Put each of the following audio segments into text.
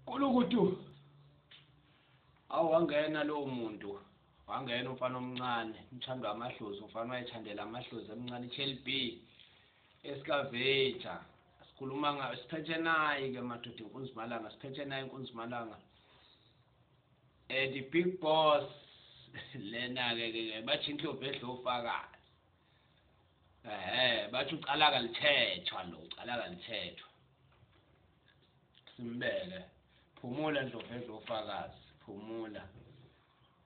kulukutu awangena lowo muntu wangena umfana omncane umthando wamadlozi umfana wayethandela amadlozi emncane i-chelb esikaveja sikhuluma ngayo siphethe nayi-ke madoda inkunzimalanga siphethe nayo inkunzimalanga Eh the big boss lena ke ke bathi inhlobo edlo ufakazi. Ehhe bathi ucala kalithethwa lo ucala kalithethwa. Simbeke phumula ndlovu edlo ufakazi phumula.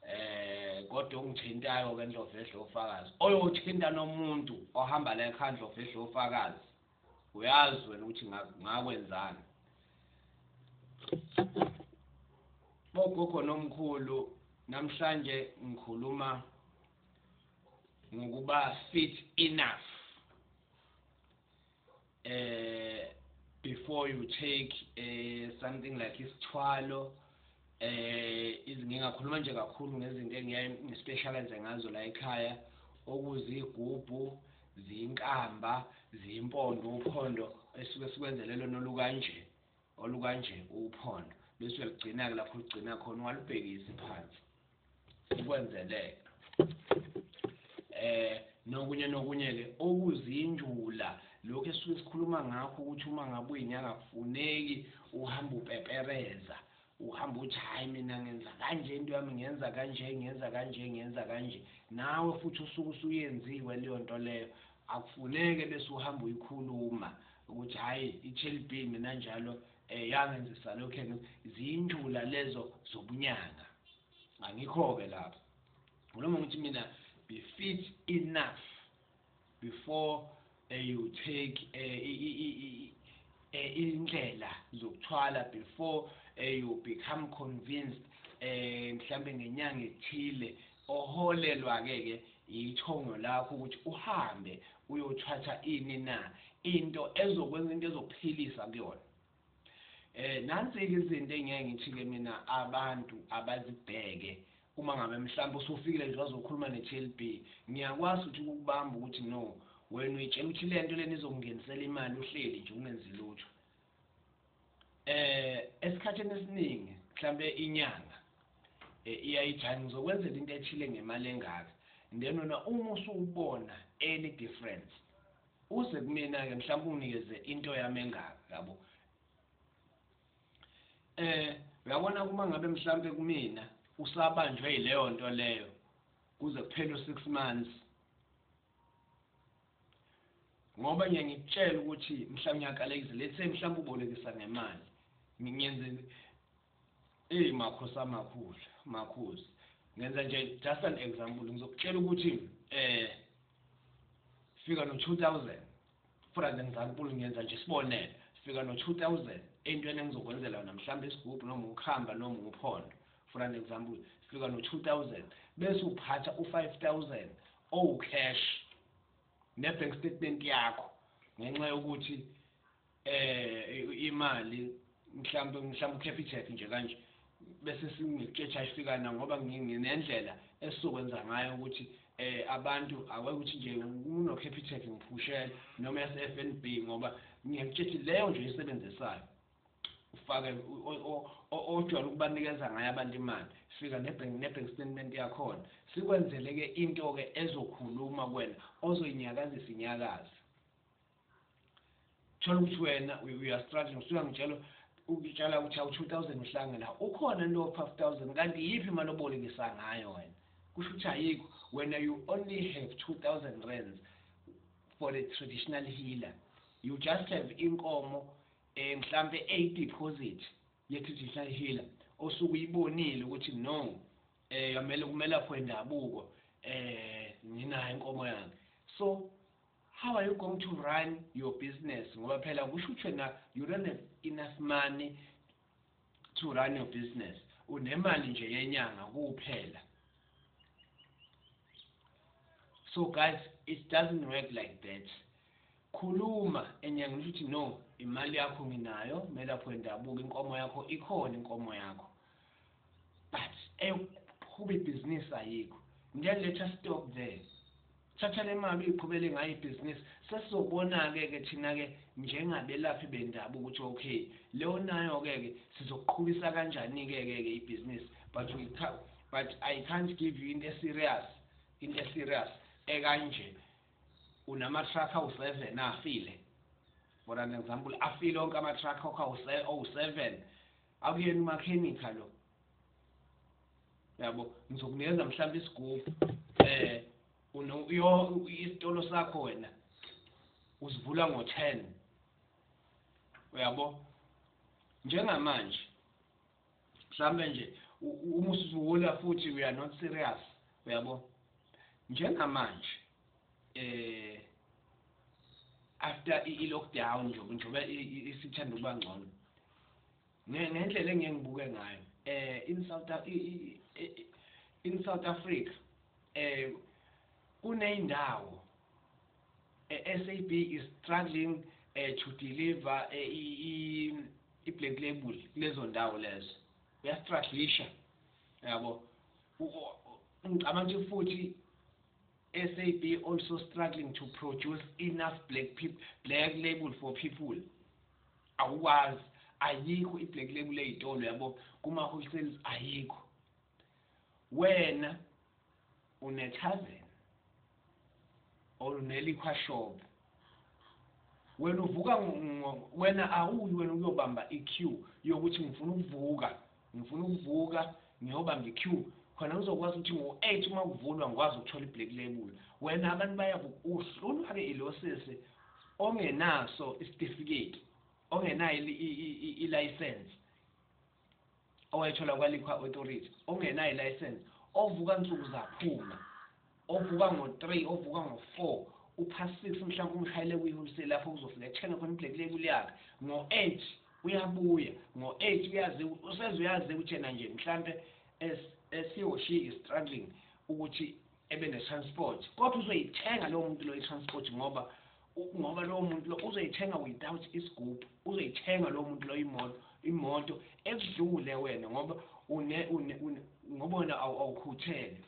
Eh kodwa ongithintayo ke ndlovu edlo ufakazi oyothinta nomuntu ohamba la ekhaya ndlovu edlo ufakazi. uyazi wena ukuthi ngakwenzani bogogo nomkhulu namhlanje ngikhuluma ngokuba fit enough eh before you take eh something like isithwalo Eh ngingakhuluma nje kakhulu ngezinto engiyaye ngispecialize ngazo la ekhaya okuzigubhu ziyinkamba ziyimpondo uphondo esuke sikwenzele lona olukanje olukanje uphondo bese uyalugcina-ke lapho olugcina khona ungalubhekisi phansi ukwenzeleka eh nokunye nokunye ke okuzinjula lokho esuke sikhuluma ngakho ukuthi uma ngabe uyinyanga kufuneki uhamba upepereza uhamba uthi hayi mina ngenza kanje into yami ngenza kanje ngenza kanje ngenza kanje nawe futhi usuke usuyenziwe leyo nto leyo akufuneke bese uhamba uyikhuluma ukuthi hayi i-chelbin mina njalo Eh yange nje salokhe ziyintshula lezo zobunyanga. Angikho ke lapho. Ngiloma ngithi mina be fit enough before uh, you take uh, indlela zokuthwala before uh, you become convinced eh mhlambe ngenyanga ethile Oholelwake ke yithongo lakho ukuthi uhambe uyothatha ini na into ezokwenza into ezokuphilisa kuyona. Eh nansi ke izinto engeke ngithi ke mina abantu abazibheke uma ngabe mhlawumbe usufikile nje wazokhuluma ne-TLB ngiyakwazi ukuthi ukubamba ukuthi no wena uyitshela ukuthi lento lena izongenisela imali uhleli nje ungenzi lutho eh esikhathini esiningi mhlambe inyanga eh, iyayijaha ngizokwenzela into ethile ngemali engaka then wena uma usubona any difference uze kumina ke mhlawumbe unginikeze into yami engaka yabo eh uyabona kuma ngabe mhlawumbe kumina usabanjwe yileyo nto leyo kuze kuphele u6 months ngoba ngiye ngikutshela ukuthi mhla ngiyakalekisa let's say mhlawumbe ubolekisa ngemali ngiyenze eyi makhosi amakhulu makhosi ngenza nje just an example ngizokutshela ukuthi eh fika no 2000 for an example ngiyenza nje sibonele fika no 2000 entweni engizokwenzela yona mhlawumbe isigubhu noma ukuhamba noma uphondo for an example fika no 2000 bese uphatha u 5000 owu cash ne bank statement yakho ngenxa yokuthi eh imali mhlawumbe mhlawumbe ukhepha icheck nje kanje bese singikutshetsha ifikana ngoba nginendlela esizokwenza ngayo ukuthi eh abantu aweke ukuthi nje uno capital ngiphushela noma yase FNB ngoba ngiyakutshela leyo nje isebenzisayo ufake ojwayele ukubanikeza ngayo abantu imali fika nebank nebank statement yakhona sikwenzele ke into ke ezokhuluma kwena ozoyinyakazisa inyakazi thola ukuthi wena we are struggling usuka ngitshela ukutshela ukuthi awu 2000 uhlange la ukhona into 5000 kanti yipi imali obolekisa ngayo wena kusho ukuthi ayikho wena you only have 2000 rands for a traditional healer you just have inkomo Eh mhlampe a deposit ye digital healer osuke uyibonile ukuthi no eh yamele kumelaphi wendabuko eh nginayo inkomo yami so how are you going to run your business ngoba phela kusho ukuthi wena you don't have enough money to run your business unemali nje yenyanga kuphela so guys it doesn't work like that khuluma enyanga ngisho ukuthi no imali yakho nginayo melapho wendabuko inkomo yakho ikhona inkomo yakho but eyokuqhuba ibhizinisi ayikho ngeke letha stock there thatha le mali uyiqhubele ngayo ibhizinisi sesizobona-ke ke thina-ke njengabelaphi bendabuko ukuthi okay leyo nayo-ke ke sizoqhubisa kanjani-ke ke ke ibhizinisi but we but i can't give you into eserious into eserious ekanje unama-truck awu-seven afile for an example afile onke ama-truck awu-seven Akuyena umakhenikha lo. Yabo, ngizokunikeza mhlawumbe isigubhu. Eh, uno yo isitolo sakho wena. Usivula ngo-10. Uyabo? Njengamanje mhlambe nje uma usuvula futhi we are not serious uyabo njengamanje eh after i lockdown nje njengoba isithanda ukuba ngcono ngendlela engeke ngibuke ngayo eh in South in South Africa eh kuneyindawo eh, SAB is struggling eh to deliver eh, i i black label lezo ndawo lezo uyastruglisha yabo ngicabanga ukuthi futhi SAB also struggling to produce enough black people, black label for people. Awukwazi ayikho iblack label ezitolo yabo kuma wholesales ayikho. Wena unechazen or uneliquor shop wena uvuka wena awuyi wena uyobamba i-queue yokuthi ngifuna ukuvuka ngifuna ukuvuka ngiyobamba i-queue khona uzokwazi ukuthi ngo-eight uma kuvulwa ngikwazi ukuthola i-black label wena abantu bayakuhlulwa-ke ilosisi ongenaso isitifiketi ongenayo ilayisensi owayetholwa kwaLiquor Authority ongenayo ilayisense ovuka nsuku zaphuma ovuka ngo-3 ovuka ngo-4 upha 6 mhlampe umshayele kwi-wholesale lapho kuzofika ethenge khona iblack label yakhe ngo-8 uyabuya ngo-8 uyazi useze uyazi ukuthi yena nje mhlampe esihoshile struggling ukuthi ebe ne transport kodwa uzoyithenga lowo muntu loyo transport ngoba ngoba lowo muntu lo uzoyithenga without isigubhu uzoyithenga lowo muntu loyo imoto imoto ekudlule wena ngoba une une ngoba wena awukhuthele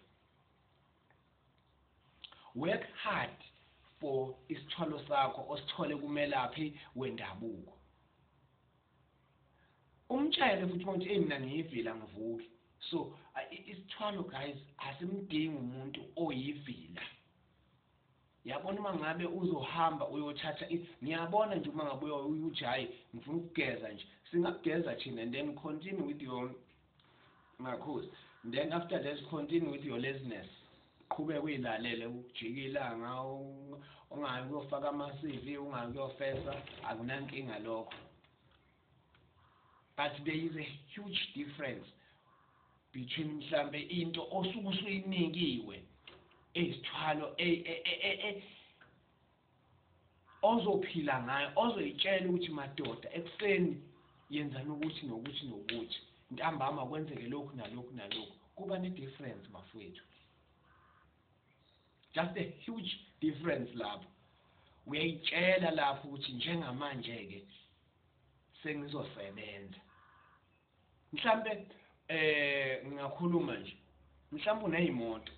work hard for isithwalo sakho osithole kumelaphi wendabuko Umtshele futhi mawuthi hey mina ngiyivila ngivuke. So isithwalo guys asimdingi umuntu oyivila. Yabona uma ngabe uzohamba uyothatha ngiyabona nje uma ngabe uyojayi ngifuna ukugeza nje. Singageza thina and then continue with your Makhosi. Then after that continue with your laziness. Qhubeka uyilalele ukujika ilanga ungayi kuyofaka ama CV ungayi kuyofesa akunankinga lokho. But there is a huge difference between mhlambe into osuke usuyinikiwe ezithwalo e, e, e, ozophila ngayo ozoyitshela ukuthi madoda ekuseni yenzani ukuthi nokuthi nokuthi ntambama kwenzeke lokhu nalokhu nalokhu kuba ne-difference bafowethu just a huge difference lapho uyayitshela lapho ukuthi njengamanje-ke sengizosebenza mhlampe eh ngingakhuluma nje mhlampe unezimoto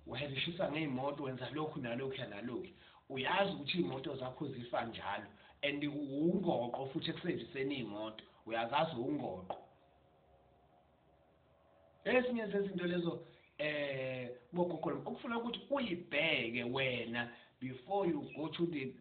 uhebishisa ngezimoto wenza lokhu nalokhu yanalokhu uyazi ukuthi imoto zakho zifa njalo and ungoqo futhi ekusebenziseni imoto uyazazi ungoqo ezinye zezinto lezo eh bogogo okufuna ukuthi uyibheke wena before you go to the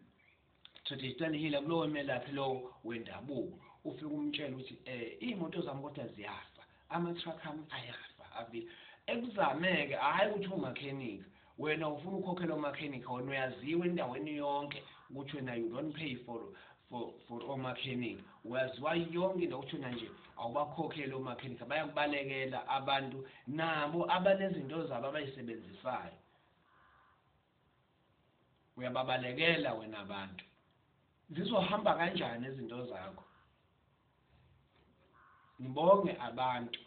Thothi Stanley Hila kulowo melaphi lowo wendabuko ufike umtshela ukuthi eh imoto zami kodwa ziyafa ama truck ami ayafa abi ekuzameke hayi ukuthi umakhenika wena ufuna ukhokhela omakhenika wena uyaziwa endaweni yonke ukuthi wena you don't pay for for for omakhenika uyaziwa yonke into ukuthi wena nje awubakhokheli omakhenika bayakubalekela abantu nabo abanezinto zabo abayisebenzisayo uyababalekela wena abantu zizohamba kanjani izinto zakho ngibonge abantu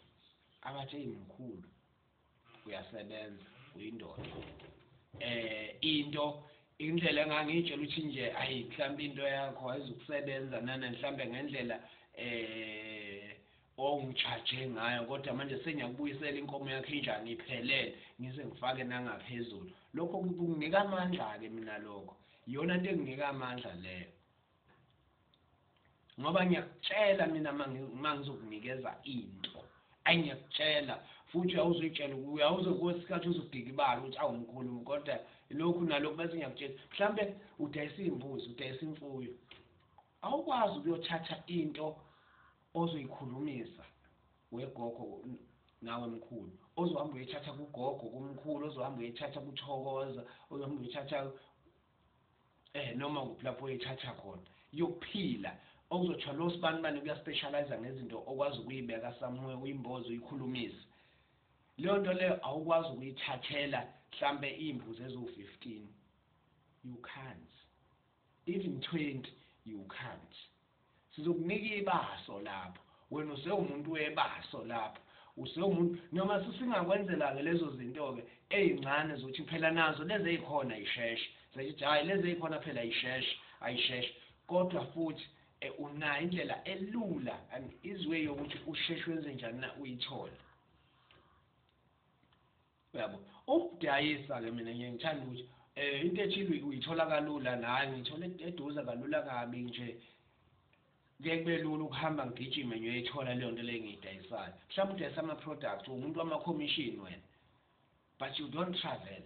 abathe mkhulu uyasebenza uyindoda eh into indlela engangitshela ukuthi nje ayi mhlawumbe into yakho ayizukusebenza nana mhlawumbe ngendlela eh ongijaje ngayo kodwa manje sengiyakubuyisela inkomo yakho injani iphelele ngize ngifake nangaphezulu lokho kunginika amandla-ke mina lokho iyona nto enginika amandla leyo ngoba ngiyakutshela mina uma ngizokunikeza into ayi ngiyakutshela futhi uyawuzoyitshela uyawuze kwesikhathi uzodikibala ukuthi awumkhulumu kodwa lokhu nalokhu bese ngiyakutshela mhlawumbe udayisa iy'mbuzi udayisa imfuyo Awukwazi ukuyothatha into ozoyikhulumisa wegogo nawe mkhulu ozohamba uyithatha kugogo kumkhulu ozohamba uyithatha kuthokoza ozohamba uyithatha eh noma kuphi lapho uyithatha khona yokuphila okuzothiwa lo sibani bani kuyaspecialize ngezinto okwazi ukuyibeka somewhere uyimbozo uyikhulumisa leyo nto leyo awukwazi ukuyithathela mhlambe imvu zezo 15 you can't even 20 you can't sizokunika ibaso lapho wena usewumuntu webaso lapho usewumuntu noma sisingakwenzela ke lezo zinto ke ezincane zothi phela nazo lezi ezikhona isheshe sethi hayi lezi ezikhona phela isheshe ayisheshe kodwa futhi eh, unayo indlela elula and izwe yokuthi usheshe wenze njani na uyithole Uyabo. Ukudayisa ke mina ngiye ngithanda ukuthi eh into ethile uyithola kalula la ngithola eduze kalula kabi nje kuye kube lula ukuhamba ngigijime ngiyoyithola leyo nto leyo engiyidayisayo mhlawumbe udayisa ama-product uwumuntu wama-commission wena but you don't travel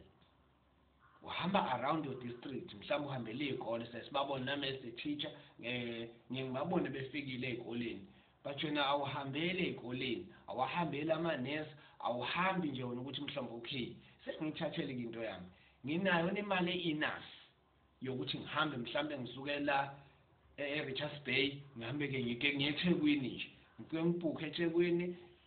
Uhamba around your district mhlawumbe uhambele izikole siye sibabone nami as a teacher ngiye ngibabone befikile ezikoleni but wena awuhambele ezikoleni awahambeli ama nurse awuhambi nje wena ukuthi mhlawumbe okay sengiyithathele into yami nginayo nemali enough yokuthi ngihambe mhlambe ngisuke la eRichards Bay ngihambe ke ngike ngiyeThekwini nje ngike ngibhukhe eThekwini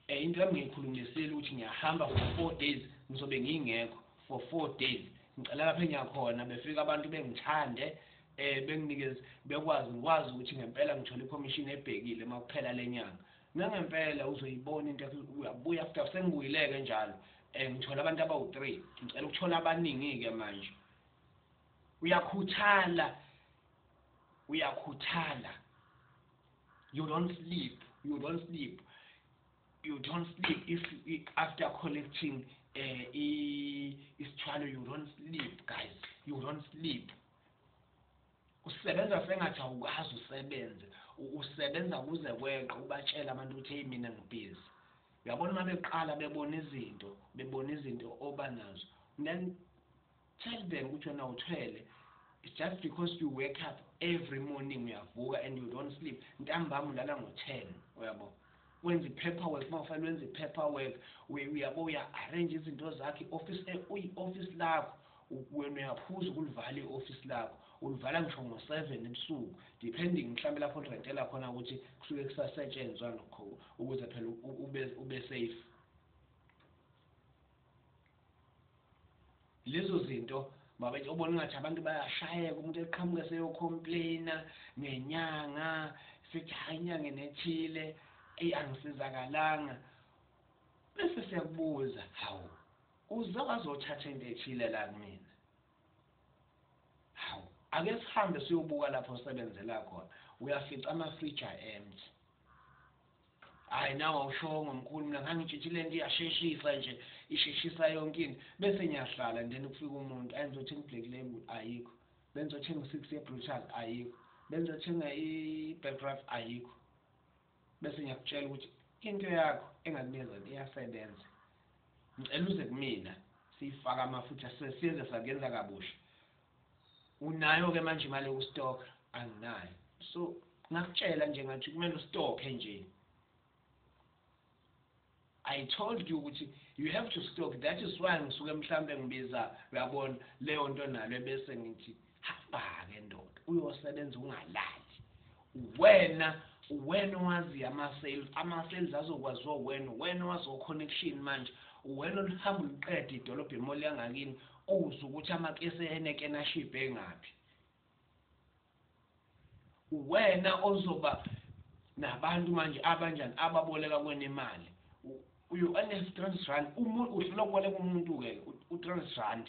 eh into yami ngiyikhulumisile ukuthi ngiyahamba for 4 days ngizobe ngingekho for 4 days ngicela lapha engiyakhona befika abantu bengithande eh benginikeze bekwazi ngikwazi ukuthi ngempela ngithola ikhomishini ebhekile uma kuphela lenyanga nangempela uzoyibona into uyabuya after sengibuyileke njalo eh ngithola abantu abawu3 ngicela ukuthola abaningi ke manje uyakhuthala uyakhuthala you don't sleep you don't sleep you don't sleep if, if after collecting uh, isithwalo you don't sleep guys you don't sleep usebenza sengathi awukwazi usebenze usebenza kuze kweqe ubatshela abantu ukuthi hey mina ngibhizi uyabona uma beqala bebona izinto bebona izinto oba nazo then Tell them ukuthi wena uthwele it's just because you wake up every morning uyavuka and you don't sleep ntambama ulala ngo 10 uyabo wenza ipaper work uma ufanele wenza ipaper work uyabo uya arrange izinto zakhe office eh, uyi office lakho wena uyaphuza ukulivala i-ofisi lakho ulivala ngisho ngo-seven ebusuku depending mhlawumbe lapho lirentela khona ukuthi kusuke kusasetshenzwa nokho ukuze phela ube safe lezo zinto mabethe ubona ngathi abantu bayashayeka umuntu eqhamuke seyocomplaina ngenyanga sithi hayi inyanga enethile eyi angisizakalanga bese siyakubuza hawu uze wazothatha into ethile la kumina hawu ake sihambe siyobuka lapho osebenzela khona uyafica amafrija empty hayi nawe awushongo mkhulu mina ngangitshitshi le nto iyasheshisa nje isheshisa yonke into bese ngiyahlala and then kufika umuntu ayi ngizothenga i-black label ayikho bengizothenga u-six ye-brutal ayikho bengizothenga i-belgraf ayikho bese ngiyakutshela ukuthi into yakho engakunikeza iyasebenza ngicela uze kumina siyifaka amafutha sesiyeze sakuyenza kabusha unayo ke manje imali yokustoka anginayo so ngakutshela nje ngathi kumele ustoke nje I told you ukuthi you have to stock that is why ngisuke mhlambe ngibiza uyabona leyo nto nalo bese ngithi hamba ke ndoda uyosebenza ungalali uwena uwena owazi ama-sales ama-sales azokwaziwa uwena uwena owazi o-connection manje uwena oluhamba uluqeda idolobha emoli yangakini uze ukuthi amakesi ehenekena ashibhe engaphi uwena ozoba nabantu manje abanjani ababoleka kwena imali uyo anestrans rand umuntu udlula kuboleka umuntu-ke u-trans rand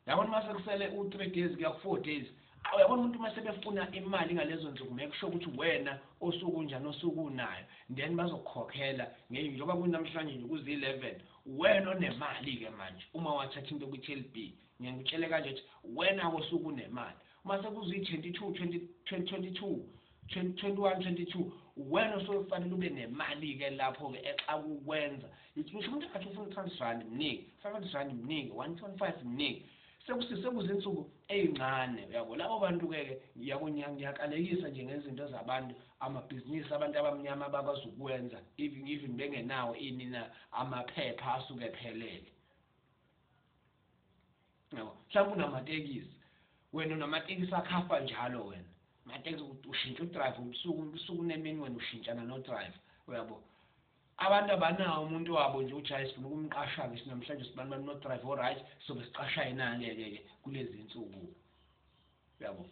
yabona uma sekusele u-three days kuya ku-four days awu yabona umuntu uma sebefuna imali ngalezo nsuku ngeke kusho ukuthi wena osuku njani osuku unayo then bazokukhokhela njengoba kunamhlanje nje kuzi-eleven wena onemali-ke manje uma wathatha into kwi-tel b ngiyangikutshele kanje ukuthi wena kosuku unemali uma sekuziyi-twenty two twenty twenty two 2021-22 uwena osofanele ube nemali ke lapho ke exakukwenza ngisho umuntu athi ufuna 200 rand mnike 500 rand mnike 1.5 mnike sekuzizinsuku ezincane uyabo labo bantu ke ke yabo ngiyakalekisa nje ngezinto zabantu amabhizinisi abantu abamnyama abakwazi ukwenza even even bengenawo inina amaphepha asuke phelele yabo mhlawumbe unamatekisi wena unamatekisi akhafa njalo wena matekisi ushintsha udrive ubusuku ubusuku nemini wena ushintshana nodrive uyabo abantu abanawo umuntu wabo nje uthi hayi sifuna ukumqasha-ke sinamhlanje sibani bani nodrive oright sobe siqasha yena-ke-ke-ke kulezi nsuku uyabo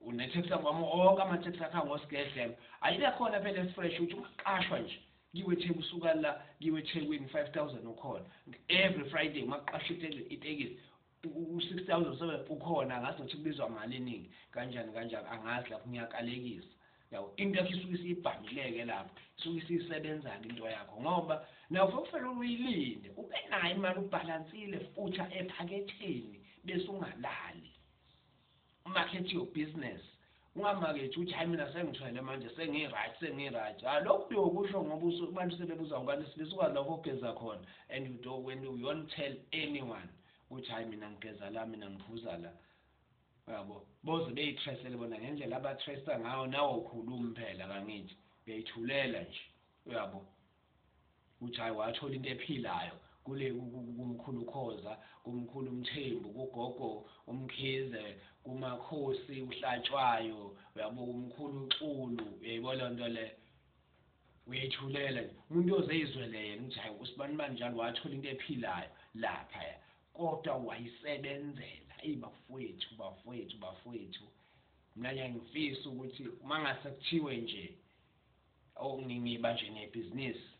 unetheksi wami onke amatheksi akha ngosigedlelo ayibe khona phela esifresh ukuthi umaqashwa nje kiwe etheku usuka la kiwe ethekwini five thousand ukhona every friday umaqasha itekisi u-six thousand seven ukhona angazi nokuthi kubizwa mali eningi kanjani kanjani angazi lapho ngiyakalekisa Yabo into yakho isuke isibhangileke lapho isuke isisebenzana into yakho ngoba nawe ufokufela uyilinde ube nayo imali ubhalansile futsha ephaketheni bese ungalali umakhethi your business ungamakethi uthi hayi mina sengithwele manje sengi-right sengi-right ha lokhu uyokusho ngoba abantu sebebuza ubani isilisa ukwazi lapho ogeza khona and you don't, when you don't tell anyone ukuthi hayi mina ngigeza la mina ngiphuza la Uyabo boze beyithresele bona ngendlela abathresta ngayo nawo khulumi phela kangithi beyithulela nje uyabo uthi hayi wathola into ephilayo kule kumkhulu khoza kumkhulu umthembu kugogo umkhize kumakhosi uhlatshwayo uyabo kumkhulu uxulu uyayibona leyo nto le uyayithulela nje umuntu oze izwele yena ukuthi hayi usibani bani njalo wathola into ephilayo laphaya Kodwa wayisebenzela. Eyi bafwethu, bafwethu, bafwethu. Mina nje ngifisa ukuthi uma ngase kuthiwe nje oh, ngiba nje nebhizinisi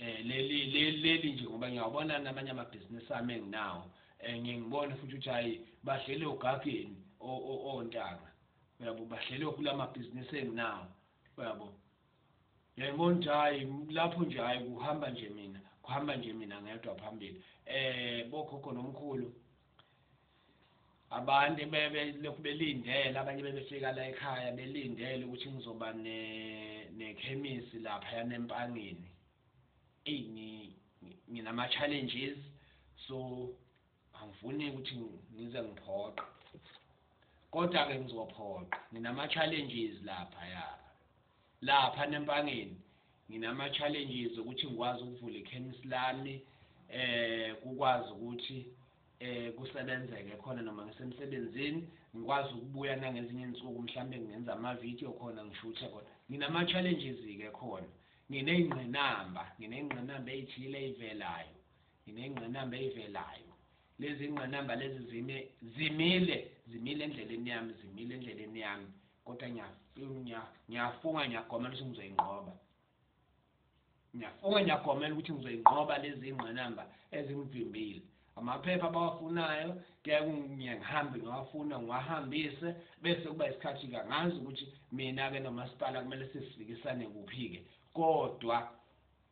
eh leli leli nje ngoba ngiyawabona namanye amabhizinisi ami enginawo eh ngiyengibone futhi ukuthi hayi badlele ogageni ontanga uyabo badlele kulama business enginawo uyabo Yayibona ukuthi hayi lapho nje hayi kuhamba nje mina kuhamba nje mina ngedwa phambili eh bokhokho nomkhulu abantu bebe lokhu belindele abanye bebefika la ekhaya belindele ukuthi ngizoba ne nekhemisi lapha yanempangeni eyi nginama challenges so Angifuni ukuthi ngize ngiphoqe. Kodwa ke ngizophoqa. Nginama challenges lapha ya. Lapha nempangeni nginama challenges ukuthi ngikwazi ukuvula ikhemisi lami eh kukwazi ukuthi eh kusebenzeke khona noma ngisemsebenzini ngikwazi ukubuya nangezinye insuku mhlambe ngenza ama video khona ngishuthe khona nginama challenges ke khona ngineyingqinamba ngineyingqinamba ezithile ezivelayo Nginengqinamba eyivelayo. Lezi ngqinamba lezi zime, zimile, zimile endleleni yami, zimile endleleni yami. Kodwa ngiyafunga, ngiyagomela ukuthi ngizoyinqoba. Ngiyafunga, ngiyagomela ukuthi ngizoyinqoba lezi ngqinamba ezingivimbile. Amaphepha abawafunayo kuyaye ngihambe ngiwafuna ngiwahambise bese kuba isikhathi-ke ngazi ukuthi mina-ke nomasipala kumele sisifikisane kuphi-ke kodwa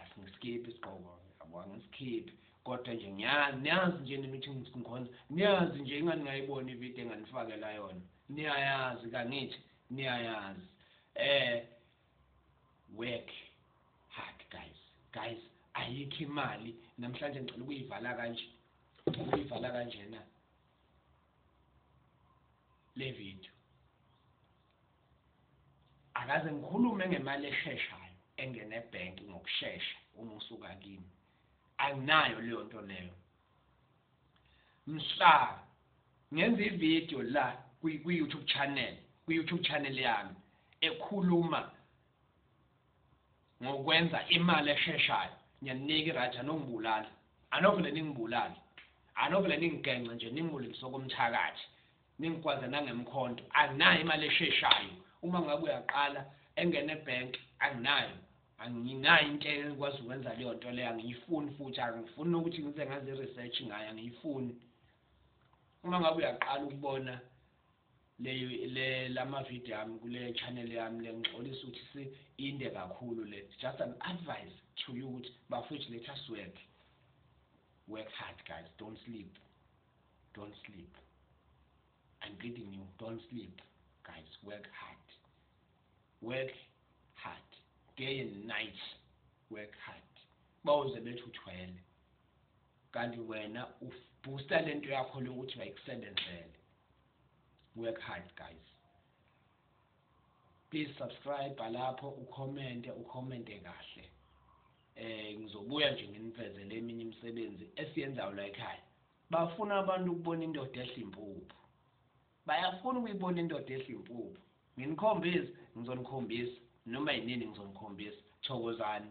asingiskiphi isigqoko yabo angisikhiphi kodwa nje ngiyazi niyazi nje nina ukuthi ngikhonza niyazi nje ingani ngayibona ividiyo enganifakela yona niyayazi kangithi niyayazi eh work hard guys guys ayikho imali namhlanje ngicela ukuyivala kanje ukuyivala kanjena le video Akaze ngikhulume ngemali esheshayo engena ebhenki ngokushesha uma usuka kimi. Anginayo leyo nto leyo. Mhla ngenza ivideo la kwi-YouTube channel, kwi-YouTube channel yami ekhuluma ngokwenza imali esheshayo, ngiyaninika i-right anongibulali. Anovele ningibulale. Anovele ningigengce nje ningibulise okomthakathi. nengigwaza nangemkhonto anginayo imali esheshayo uma ngabe uyaqala engene ebank anginayo anginayo into ekwazi ukwenza leyo nto leyo angiyifuni futhi angifuni ukuthi ngize ngaze i-research ngayo angiyifuni uma ngabe uyaqala ukubona le le lama video yami kule channel yami lengixolisa ukuthi si inde kakhulu le just an advice to you ukuthi bafethu let us work work hard guys don't sleep Don't sleep. I'm begging you, don't sleep. Guys, work hard. Work hard. Day and night. Work hard. Bawuze bethi uthwele. Kanti wena ubooster lento yakho lokuthi wayikusebenzele. Work hard, guys. Please subscribe lapho ucommente, ucommente kahle. Eh ngizobuya nje nginifezele eminye imisebenzi esiyenzayo la ekhaya. Bafuna abantu ukubona indoda edla impuphu. Bayafuna ukuyibona indoda edla impuphu. Nginikhombise, ngizonikhombisa. Noma yinini ngizonikhombisa. Thokozani.